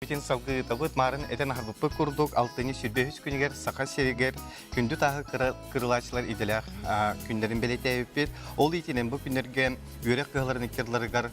Битин салгыытабыт маарын этэн аһарбыппыт курдук алтыны сүрбэһүс күнүгэр Саха сиригэр күндү тааһы кырылаачылар идэлээх күннэрин бэлэтээбиппит. Ол иитинэн бу күннэргэ үөрэх кыһаларын иккирларыгар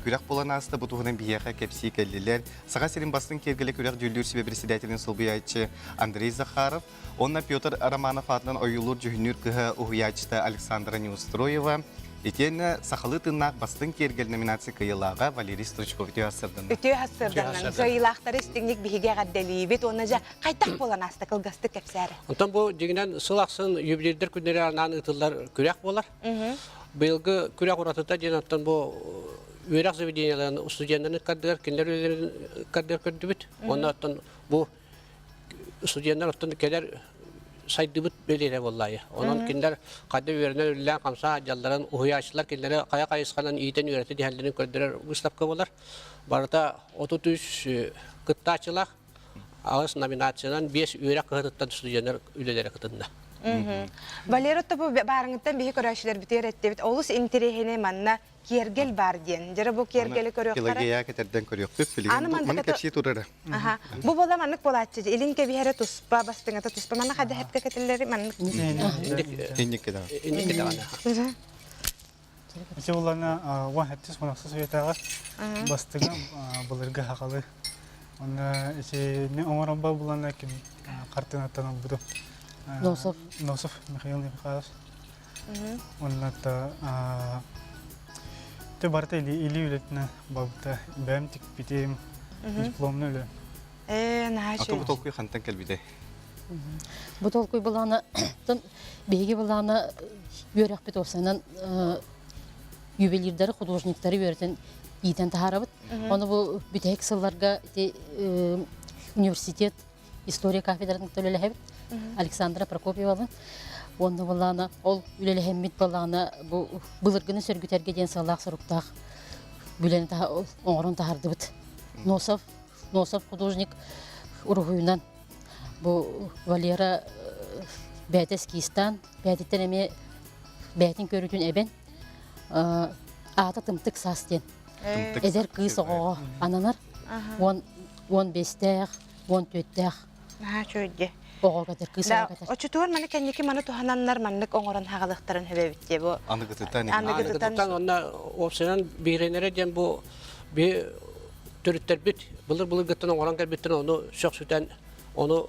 күрэх булан ааста, бу туһунан биһиэхэ кэпсии кэллилэр. Саха сирин бастыҥ киэргэлэ күрэх дьүүллүүр сүбэ председателин солбуйааччы Андрей Захаров, Уонна Петр Романов аатынан ойуулуур-дьүһүннүүр кыһа уһуйааччыта Александра Неустроева, итиэннэ сахалыы тыыннаах Бастыҥ киэргэл номинация кыайыылааҕа Валерий Стручков үтүө ассырданна. Үтүө ассырданна. Кыайыылаахтары истиҥник биһиги эҕэрдэлиибит уонна дьэ хайдах буолан ааста кылгастык кэпсээри. Онтон бу дьиҥинэн сыл ахсын юбилейдэр күннэри анаан ыытыллар күрэх буолар. Быйылгы күрэх уратыта диэн оттон бу үөрэх заведениеларын студеннарын кардыгар кинилэр үлэлэрин кардыгар көрдүбүт. Уонна оттон бу студенттар оттон кэлэр сайдыбыт бэлиэтэ буоллаайы. Онон кинилэр хадда үөрэнэр үллээн хамса дьалларын уһуйааччылар кинилэри хайа хайысханан иитэн үөрэтэ тиһэллэрин көрдөрөр выставка болар. Барыта 33 кыттааччылаах аҕыс номинациянан бес үөрэх кыһатыттан студенттар үлэлэрэ кытынна. Валера Тобу баарыңыттан биһи көрөөччүлэр битиэр эттибит. Олус интириэһини манна киэргэл баар диэн. Дьэ, бу киэргэли көрүөхтэрэ. Пелагея кэтэрдэн көрүөхпүт. Билигин маннык кэпсии турара. Аха. Бу буола маннык буолааччы. Илин кэбиһэрэ туспа, бастыҥата туспа. Маннык эдэһэпкэ кэтиллэри маннык. Инник кэтэҕэ. Инник кэтэҕэ. Ити буллана уа хаттис хонахса суетаҕа бастыҥа былыргы хахалы онна ити оҥорон бал булана картынаттан албыту Носов. Носов Михаил Михайлович Уонна ты барыта илии үлэтинэ балта бэм тикпитим дипломна үлэ э наһаа чү бу толкуй хантан кэлбитэй бу толкуй былаана тын биһиги былаана үөрөхпит осанан ювелирдары художниктары үөрэтен иитен тахарабыт оны бу битehик сылларга ити университет история кафедратын үлэлэһэбит Александра Прокопьевабын уонна балаана ол үлэлэһэммит балаана бу былыргыны сөргүтэргэ диэн сыаллаах соруктаах үлэни оҥорон таһардыбыт носов носов художник уруһуйунан бу валера э, бээтэс киистаан бээтиттэн эмиэ бээтин көрүүтүн эбэн э, аата тымтык саас диэн эдэр кыыс оҕоҕо ананар уон уон бэстээх уон түөртээх наһаа үчүгэй оҕо катар кыыс оҕо катар оччотугар маны кэнники маны туһананнар маннык оҥорон хаалыахтарын хөбөбүт диэ бу аныгытытан аныгытытан онно уопсанан бииринэрэ диэн бу би төрүттэрбит былыр былыргыттан оҥорон кэлбиттэн ону сөхсүтэн ону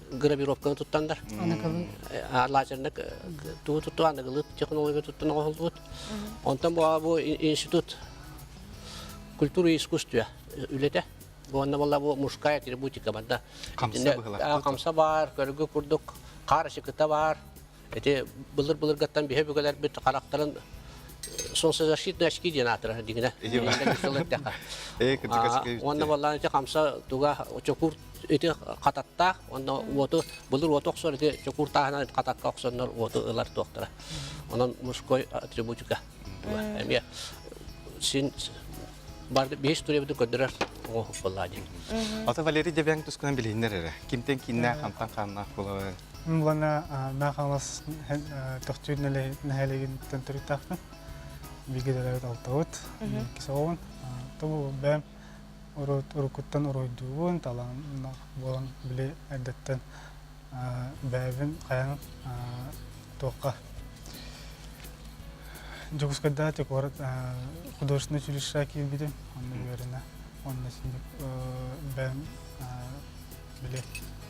гравировканы туттандар лазерник тугу тутту аныгылыт технология туттан оҕолбут онтон бу институт культура и искусство үлэтэ уонна была бу мужская атрибутика барда хамса баар көргө курдук қар шыкыта бар Ити былыр-былыргаттан биһи бүгөлөрбүт характарын солнцезащитный очки диэн аатырар дигинэ. Уонна боллаан ити хамса туга чокуур ити хататтаах уонна уоту былыр уоту охсор ити чокуур тааһынан хатакка охсоннор уоту ылар туохтара. Онон мужской атрибутика. Эмиэ син бар бейс туребду көрдөрөр боллаа дии. Ата Валерий Дебян тускунан билиннер эрэ. Кимтен кинна хамтан ханна Мулана Наахаҥлас Тохтүүр нэһилиэгиттэн төрүттаахпын. Бииргэ төрөөбүт алтабыт, иккис оҕобун. Тобу бэм уруккуттан уруйдуубун, талаан буолан били эрдэттэн бэйэбин хайаан туохха Дьокуускайдаах куорат художественнай училищеҕа киирбитим. Онно үөрэнэ. Онно бэйэм били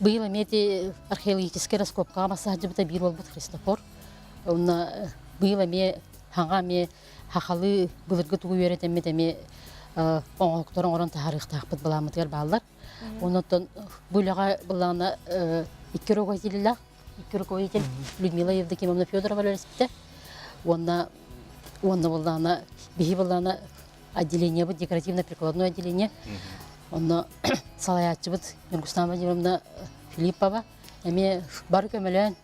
Быйыл эмиэ археологическай раскопкаҕа мас саһдьыбыта биир буолбут Христофор. Онно быйыл эмиэ саҥа эмиэ сахалыы былыргы тугу үөрэтэммит эмиэ оҥоһуктары оҥорон таһаарыахтаахпыт былааммытыгар бааллар. Оннуттан бу үлэҕэ былаана икки руководитель икки руководитель Людмила Евдокимовна Федорова үлэлэспитэ. Уонна уонна былаана биһи былаана отделениебыт декоративно-прикладное отделение. Онно салаятчыбыт Нургустан Владимировна Филиппова эмиэ бары көмөлөөн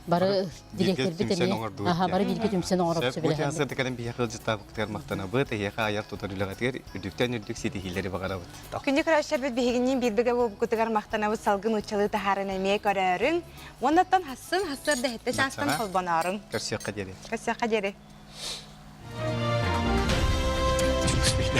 бары директорбит эмиэ аха бары бииргэ түмсэн оҥорорбут бу тыасырдыкарын биһэ кылдьыттаабыкытыгар махтанабыт эһиэхэ айар тутар үлэҕитигэр үрдүктэн үрдүк ситиһиилэри баҕарабыт күндү көрөөччүлэрбит биһигинниин биир бөҕө буолбуккутугар махтанабыт салгын ыччалыы таһааран эмиэ көрөөрүҥ Уоннаттан хассын хассыыр дэһиттэ чаастан холбонорун. Көрсүөххэ диэри. Көрсүөххэ диэри. Спасибо.